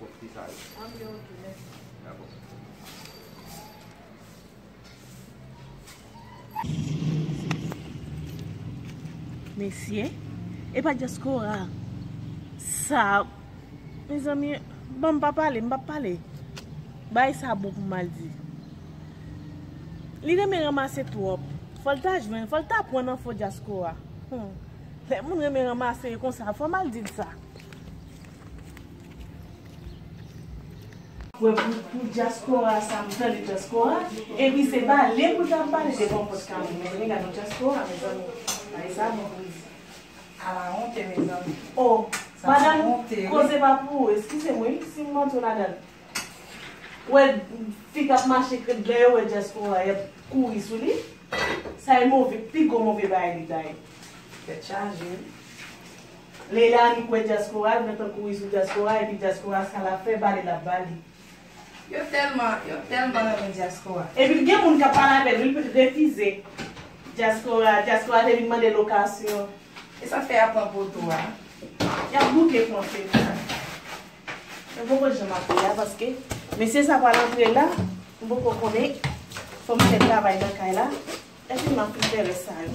Bon ki sa yo? An byen ok mèsi. Dabò. Mesye epa diaspora sa mezanmi bon mpa pale mpa pale bay sa bon pou mal di li renmen ranmase trop fol ta jwenn fol ta pwan nan fo diaspora lè moun renmen ranmase yo konsa fò mal dil sa. Wè pou dyaspora sa m tande dyaspora epi se pale pou l ta pale de konpòt kane men men gadon dyaspora mezanmi bagay sa bon pou l di ala honte mezanmi oh sa sa honte wi koze pa pou ou eskize m wi si m rantre ladan l wè fi kap mache krèt lè yo wè dyaspora yap kouri sou li sa e move pi gwo move bagay li ta ye tèt chaje wi. Leila li kwè dyaspora dwe pran kouri sou dyaspora epi dyaspora sa lap fè bale lap bale. Yo telman yo telman renmen diaspora. Epi gen moun kap pale avèl wi lipral refize dyaspora dyaspora te vin mande lokasyon. Esak fè yap pran poto a. Yap bouke fonse pou sa. Mwen poko janm ap ri a paske mesye sa pral antre la m poko konnen fòm fè travay nan kay la epi map fin fè rès sa yo.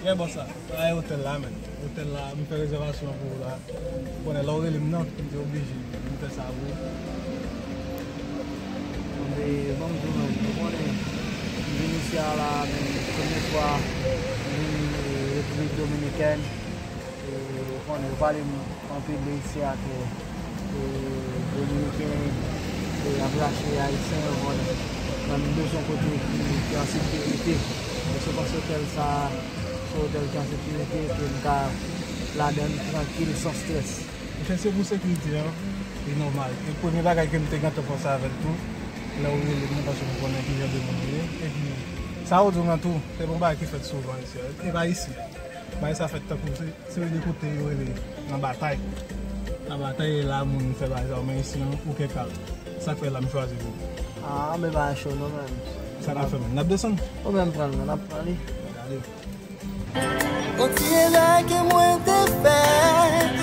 Trè bon sa. Sa e otèl la menn. Otèl la m fè rezèvasyon pou ou la. Ou konnen lè ou rele m nan, m te oblije vin fè sa pou ou. Anmwe ban m di w menm, ou konnen m vin isi a la menm premye fwa m vin Repiblik Dominikèn. Ou konnen, yo pale anpil de isi a ke Dominiken ap rache Ayisyen, ou konnen. Nan menm de son kote ki an sekirite. Mwen se panse otèl sa a, se yon otèl ki an sekirite ke m ka ladan li trankil, san strès. Monchè, se pou sekirite an, li nòmal. E premye bagay ke m te gentan panse avè l tou, lè ou rele m nan, paske m konnen ki jan de moun ou ye. Epi, sa ou di w lan tou, se pa yon bagay ki fèt souvan isi a. E pa isi. Bagay sa fèt tankou se seri de kote yo rele nan batay. Nan batay e la moun fè bagay sa yo men isi an ou kèk al. Sak fè la m chwazi pou ou. Aa anbe pa cho non menm. Sa nap fè menm? Nap desann? Ou menm pran l non nap pran li. Gade. Kontinye lage mwen te fèt.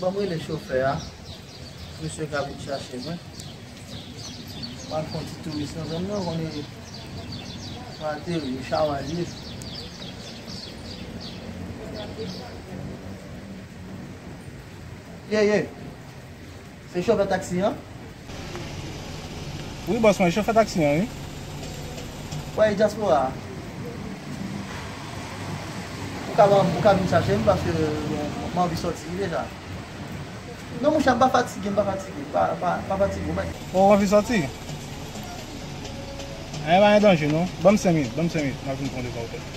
Banm rele chofè a Misye ka vin chache mwen Map fon ti touris nan zòn nan Konnen Mwen ateri ou chawal ye Ye ye Se chofè taxi an? Wi boss mwen chofè taxi an wi. Wè e diaspora a. Ou ka banm ou ka vin chachem paske m anvi soti deja. Non mouche m pa fatige m pa fatige pa fatige ou mèt. Oh ou anvi soti? Anh pa gen danje non. Banm 5 minit banm 5 minit map vin pran depaw tèt.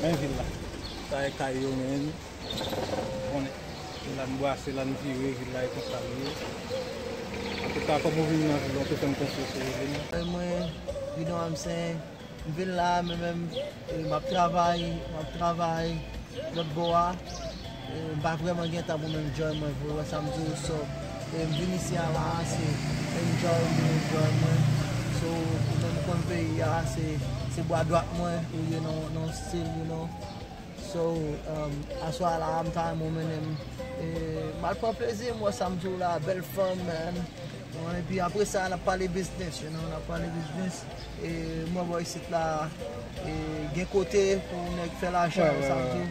Men vil la. Sa e kay yo men. Ou konnen. Se la n bwase, la n vire, vil la e konsa li ye. Antouka kòm ou vini nan vil la, ou te fè m konfyans ou ede m. E mwen, Guidon Amsen, m vin la mwen menm, e m ap travay, m ap travay lòt bò a. M pa vreman gen tan pou m enjoy mwen vre, ou wè sa m di ou so e m vin isi a la a se enjoy m vin enjoy mwen so ou menm konn peyi a se bwa dwat mwen ou ye nan yon stil you know so aswa a la a m ta renmen ou mennen m e m al pran plezi m wè sa m di w la a bèl fanm man e pi apre sa n ap pale biznis you know n ap pale biznis e m wè bò isit la a gen kote pou nèg fè lajan ou wè sa m di w.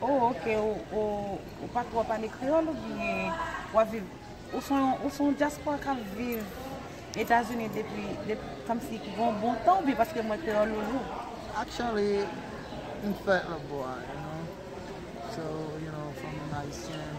Oh ok ou pa tro pale kreyol ou byen wap viv ou son yon diaspora kap viv etazini depi komsi ki gen yon bon tan ou byen paske m wè kreyol ou lou. Actually m fèt Lobwa you know so you know fanmi m ayisyen.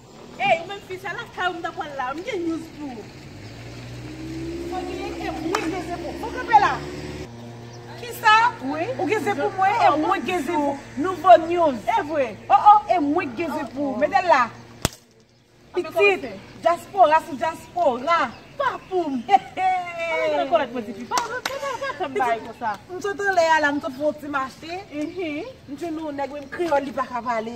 Ey ou menm fi sa lakay ou m ta pwal la m gen news pou ou. Mwen genyen e mwen gen ze pou ou kanpe la. Kisa? Ou gen ze pou mwen e mwen gen ze pou nouvo news. Evre oh oh e mwen gen ze pou ou mete la pitit dyaspora sou dyaspora pa poum hehe m sot anlè a la m sot fon ti mache m jwenn yon nèg menm kreyòl li paka pale.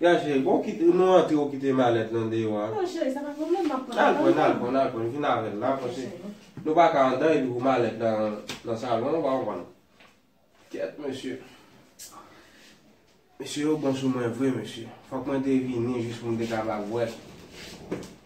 Ya cheri bon kit ou nou antre ou kite malèt lan deyò a. Non cheri sa pa pwoblèm map pran Al pran al pran al pran vin avèl la paske nou pa ka andan epi pou malèt la nan salon ou pa konprann. Kèt mesye. Mesye yo bon sou mwen vre mesye. Fòk mwen te vini jis pou m te kapab wè.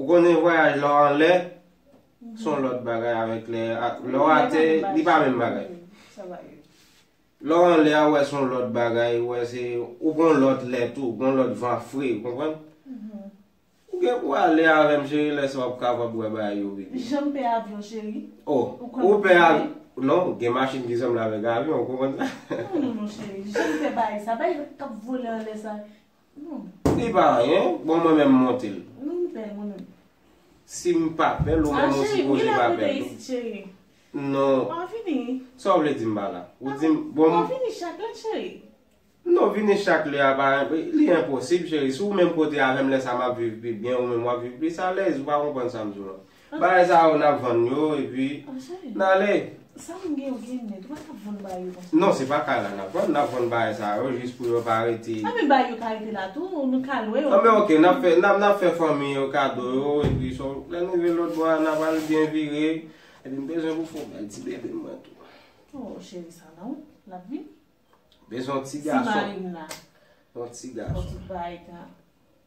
Ou konnen vwayaj lè w anlè son lòt bagay avèk lè lè w atè li pa menm bagay. Lè w anlè a ou wè son lòt bagay, ou wè se ou gon lòt lè tou, gon lòt van fre, ou konprann? Ou gen pou w ale avè m cheri lè sa w ap kapab wè bagay yo vini. Jan m pè avyon cheri. O, ou pè avyon? Non, gen machin ki sanble avèk avyon, ou konprann sa? Non non non cheri, jan m pè bagay sa, bagay k ap vole anlè sa. Li pa anyen, bon mwen menm monte l. Wi li bèl mwen menm. Si m pa bèl ou menm ou sipoze pa bèl tou. Non. Ou pa vini. Sa w vle di m pa la? Ou di m bon. Ou pa vini chak lè cheri. Non vini chak lè a pa li enposib cheri. Si w menm kote avè m lè sa m ap viv pi byen ou menm w ap viv plis alèz ou pa konprann sa m di w la. Bagay sa yo nap vann yo epi nale. Sa moun gen yo gen net ou pa ka vann bagay yo konsa. Non se pa kay la nap vann nap vann bagay sa yo jis pou yo pa rete. A men bagay yo ka rete la tou nou ka lwe yo. A men ok nap fè nap fè fanmi yo kado yo epi so lè nou rive lòt bò a nap al byen vire. Epi m bezwen pou fon bay ti bebe m nan tou. Oh cheri sa nan ou lap vin. Bezwen yon ti gason. Ti marim nan. Yon ti gason. Yon ti bay ta.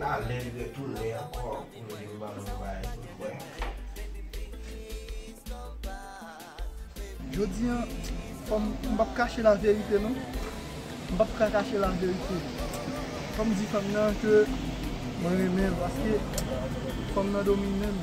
Nale li retounen ankò pou nou vin ban nou yon bagay pou nou bwè. Jodi an fòm m pap kache la verite non m pap ka kache la verite fòm di fanm nan ke mwen renmen l paske fanm nan domine m.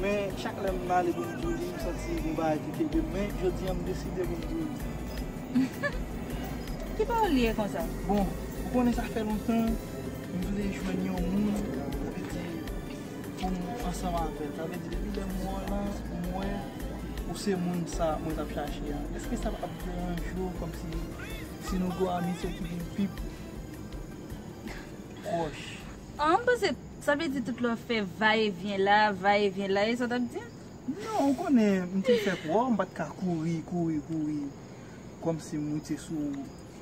Men chak lè m pale pou m di w li, m santi gon bagay ki kenbe m, men jodi an m deside pou m di w li. Ki pa w li ye konsa? Bon, ou konnen sa fè lontan m vle jwenn yon moun, sa vle di pou m ansanm avè l. Sa vle di depi lè m wè w la, m wè ou se moun sa mwen t ap chache a. Èske sa pa p deranje w kòmsi si nou gen yon amitye ki vin pi pwòch? An, m panse Sa vle di tout lè w fè va e vyen la, va e vyen la, e sa w t ap di m? Non, ou konnen, m te fè kwa w, m pa t ka kouri, kouri, kouri kòmsi m moute sou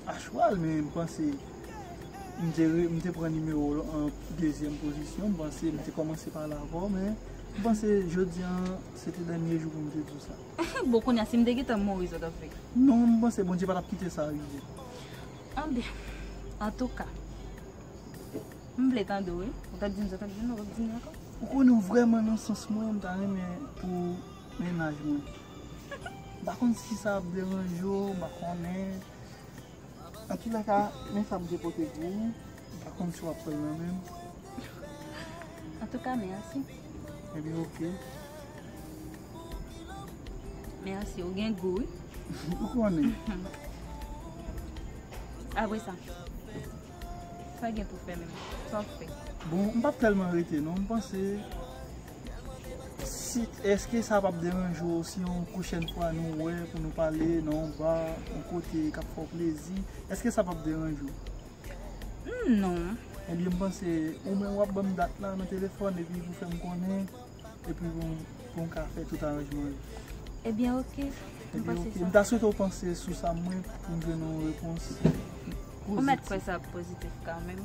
a chwal, men m panse m te re, m te pran nimewo w an dezyèm pozisyon, m panse m te kòmanse pale avè w, men m panse jodi a se te dènye jou pou m te di w sa. Bon, kounye a, si m te gentan mouri, sa w t ap fè? Non, m panse Bondye pa t ap kite sa rive. An byen, antouka. M vle tande w wi. Ou tap di m sa, ou tap di m sa, ou pap di m ankò. Ou konnen w vrèman nan sans mwen, m ta renmen pou mennaj mwen. M pa konn si sa ap deranje w, m pa konnen. An tout lèka, men sa Bondye pote pou ou. M pa konn si w ap pran l nan men. An tou ka, mèsi. Ebyen oke. Mèsi, ou gen gou wi. Ou konnen. Apre sa? Sa gen pou fè menm? Sa w fè? Bon, m pap tèlman rete non. M panse, si, èske sa pap deranje w si yon pwochèn fwa nou wè pou nou pale nan yon ba, yon kote k ap fè w plezi? Èske sa pap deranje w? Hum, non. Ebyen, m panse, ou menm w ap ban m dat la nan telefòn epi pou fè m konnen. Epi pou m ka fè tout aranjman yo. Ebyen ok. M ta swete w panse sou sa mwen pou m jwenn yon repons pozitif. Ou mèt kwè sa ap pozitif kanmenm.